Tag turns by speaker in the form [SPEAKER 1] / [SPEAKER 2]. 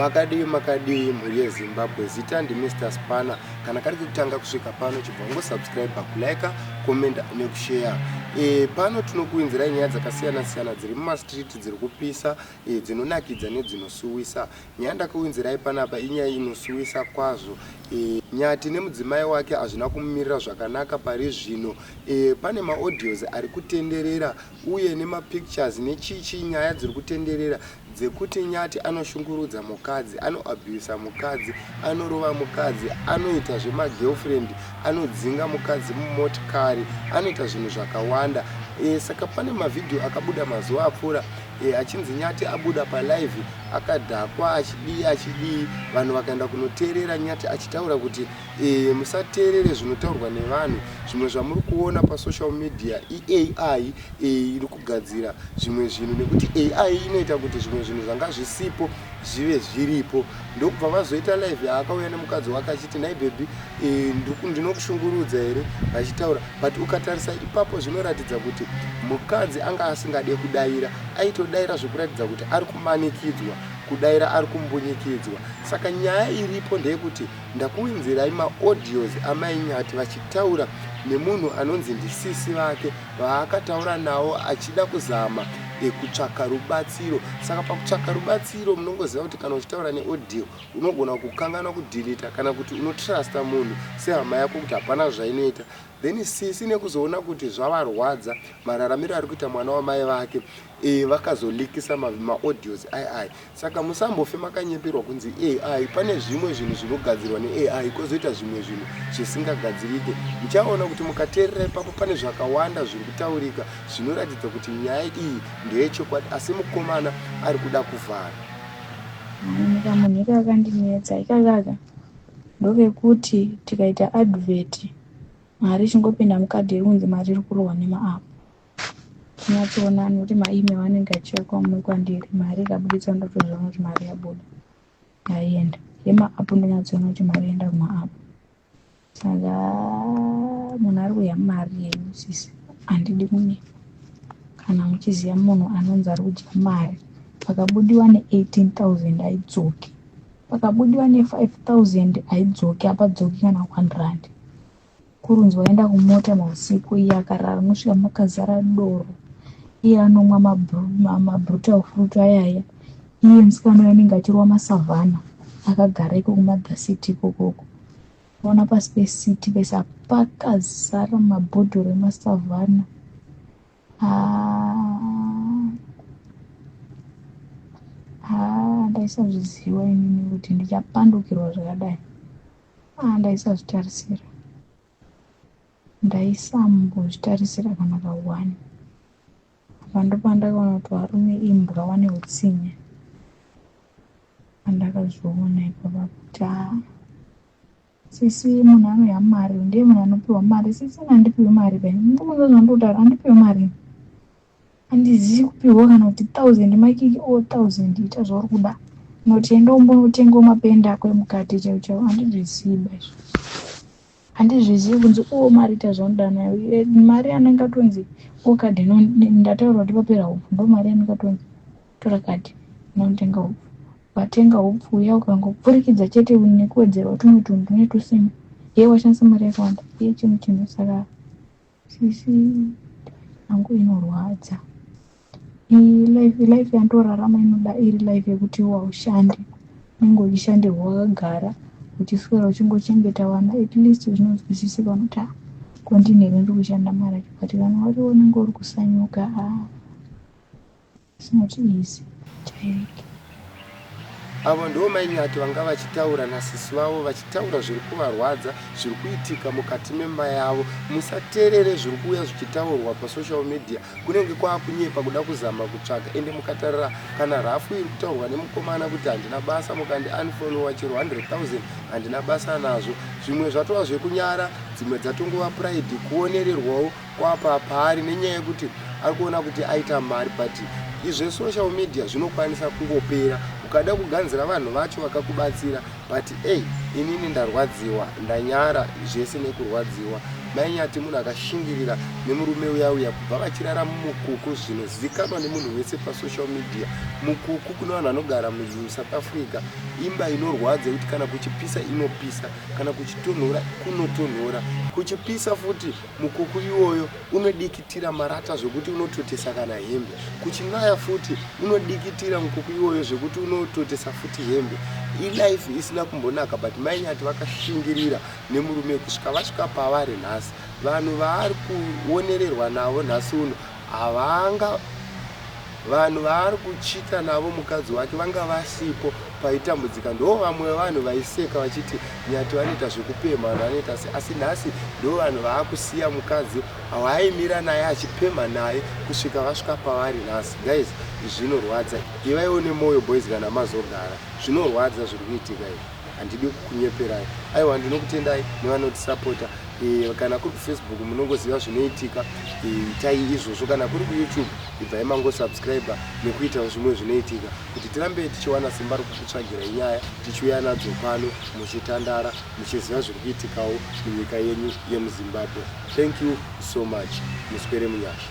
[SPEAKER 1] makadii makadii mhuri yezimbabwe zita ndimr spana kana kari kekutanga kusvika pano chibva ngosubscribe kulike comment nekusheya e, pano tinokuinzirai nyaya dzakasiyana siyana dziri mumastreet dziri kupisa e, dzinonakidza nedzinosuwisa nyaya ndakauinzirai panapa inyaya inosuwisa kwazvo e, nyati nemudzimai wake hazvina kumumirira zvakanaka pari zvino Eh, pane maaudios ari kutenderera uye nemapictures nechichi nyaya dziri kutenderera dzekuti nyati anoshungurudza mukadzi anoabusa mukadzi anorova mukadzi anoita zvemagirlfriend anodzinga mukadzi mumotikari anoita zvinhu zvakawanda e, saka pane mavhidhiyo akabuda mazuva apfuura e, achinzi nyati abuda palive akadhakwa achidii achidii vanhu vakaenda kunoteerera nyati achitaura kuti Eeh musateerere zvinotaurwa nevanhu zvimwe zvamuri kuona pa social media iAI eeh iri kugadzira zvimwe zvinhu nekuti AI inoita kuti zvimwe zvinhu zvanga zvisipo zvive zviripo ndokubva vazoita live yaakauya nemukadzi wake achiti nhai baby eeh ndinokushungurudza here vachitaura but ukatarisa ipapo zvinoratidza kuti mukadzi anga asingade kudaira aitodaira zvekuratidza kuti ari kumanikidzwa kudaira ari kumbunyikidzwa saka nyaya iripo ndeyekuti Ndakuinzirai ma audios amai Nyati vachitaura nemunhu anonzi ndisisi vake vaakataura nawo achida kuzama kutsvaka rubatsiro. Saka pakutsvaka rubatsiro munongoziva kuti kana uchitaura ne audio unogona kukanganwa kudhilita kana kuti unotrusta munhu sehama yako kuti hapana zvainoita then sisi nekuzoona kuti zvavarwadza mararamiro ari kuita mwana wamai vake Eeh vakazo likisa ma audios ai ai saka musambofe makanyeperwa kunzi ai pane zvimwe zvinhu zvinogadzirwa ne ai kozoita zvimwe zvinhu zvisingagadzirike muchaona kuti mukateerera ipapo pane zvakawanda zviri kutaurika zvinoratidza kuti nyaya iyi ndeyechokwadi asi mukomana ari kuda kuvhara
[SPEAKER 2] manyika munhu iko akandinetsa ikakaka ndovekuti tikaita advert mari chingopinda mukadhi iri kunzi mari iri kurohwa nemaapo Nyatsoona anokuti maemail anenge achiuya kwaumwe kwandiri mari ikabuditswa ndotozviona kuti mari yabuda yaienda yemaapu ndonyatsoona kuti mari yaenda kumaapu saka munhu ari kudya mari yenyu sisi handidi kunyepa kana muchiziva munhu anonzi ari kudya mari pakabudiwa ne18 000 aidzoki pakabudiwa ne5 000 aidzoki apadzoki kana one rand Kurunzi waenda kumota mausiku iye akarara nosvika makazara doro iye anomwa mabrutal fruit ayaya iye musikana uyo anenge achirova masavhana akagara iko kumother city ikokoko ona pasi pecity pese pakazara mabhodhoro emasavhana ndaisazviziva inini kuti ndichapandukirwa zvakadai aa ndaisazvitarisira ndaisambozvitarisira kana kawani apa ndopandakaona kuti varume imbwa vane utsinye pandakazviona ipapa kuti aa Sisi munhu anoya mari ndiye munhu anopiwa mari sisi ini handipiwi mari pai ndikubvunza zvandikutaura handipiwi mari handizivi kupiwa kana kuti thousand makiki o thousand ita zvauri kuda noti enda umbonotengawo mapenda ako emukati chaivo chaivo handizvizivi ba izvo handizvizivi kunzi o mari ita zvaunoda nayo mari anenge atonzi okadeno ndataura kuti papera upo ndo mari anenge atonzi tora kadhi unotenga hupfu watenga hupfu uya ukangopfurikidza chete nekuwedzerwa tumwe tunhu tune tusina ye washandisa mari yakawanda ye chimwe chinhu saka sisi yangu inorwadza life yanditorarama inoda iri life yekuti waushande unenge uchishandirwa wakagara uchiswera uchingochengeta vana at least zvinonzwisisika unokuti ah, kondinheri ndiri kushanda mari acho but vana vari unenge uri kusanyuka ah.
[SPEAKER 1] Avo ndivo mai Nyati vanga vachitaura nasisi vavo vachitaura zviri kuvarwadza zviri kuitika mukati memba yavo. Musaterere zviri kuuya zvichitaurwa pasocial media kunenge kwaakunyepa kuda kuzama kutsvaga ende mukatarira kana rafu iri kutaurwa nemukomana kuti handina basa mukandi unfollowa chero 100,000 handina basa nazvo. Zvimwe zvatova zvekunyara dzimwe dzatongova pride kuonererwawo Kwapa paari nenyaya yekuti ari kuona kuti aita mari but izve social media zvinokwanisa kungopera ukada kuganzira vanhu vacho vakakubatsira but ei inini ndarwadziwa ndanyara zvese nekurwadziwa mainyati munhu akashingirira nemurume uya uya kubva vachirara mumukuku zvinozivikanwa nemunhu wese pasocial media mukuku kune vanhu vanogara musouth africa imba inorwadza yekuti kana kuchipisa inopisa kana kuchitonhora kunotonhora kuchipisa futi Mukuku iwoyo unodikitira marata zvekuti unototesa kana hembe. Kuchinaya futi unodikitira mukuku iwoyo zvekuti unototesa futi hembe. Ilife isina kumbonaka but mai nyati vakashingirira nemurume kusvika vasvika pavari nhasi. Vanhu vaari kuonererwa navo nhasi uno havanga Vanhu vaari kuchita navo mukadzi wake vanga vasipo paitambudzika ndoo vamwe vevanhu vaiseka vachiti Nyati vanoita zvekupemha vanhu vanoita sei asi nhasi ndoo vanhu vaakusiya mukadzi waaimira naye achipemha naye kusvika vasvika pavari nhasi guys izvi zvinorwadza ivaiwo nemoyo boys kana mazogara zvinorwadza zviri kuitika izvi handidi kukunyeperai aiwa ndinokutendai nevanotisapota e, kana kuri kufacebook munongoziva zvinoitika e, itai e, izvozvo kana kuri kuyoutube ibvai mangosubscribe nekuitawo zvimwe zvinoitika kuti tirambe tichiwana simba rokukutsvagirai nyaya tichiuya nadzo pano muchitandara muchiziva zviri kuitikawo munyika yenyu yemuzimbabwe thank you so much muswere munyasha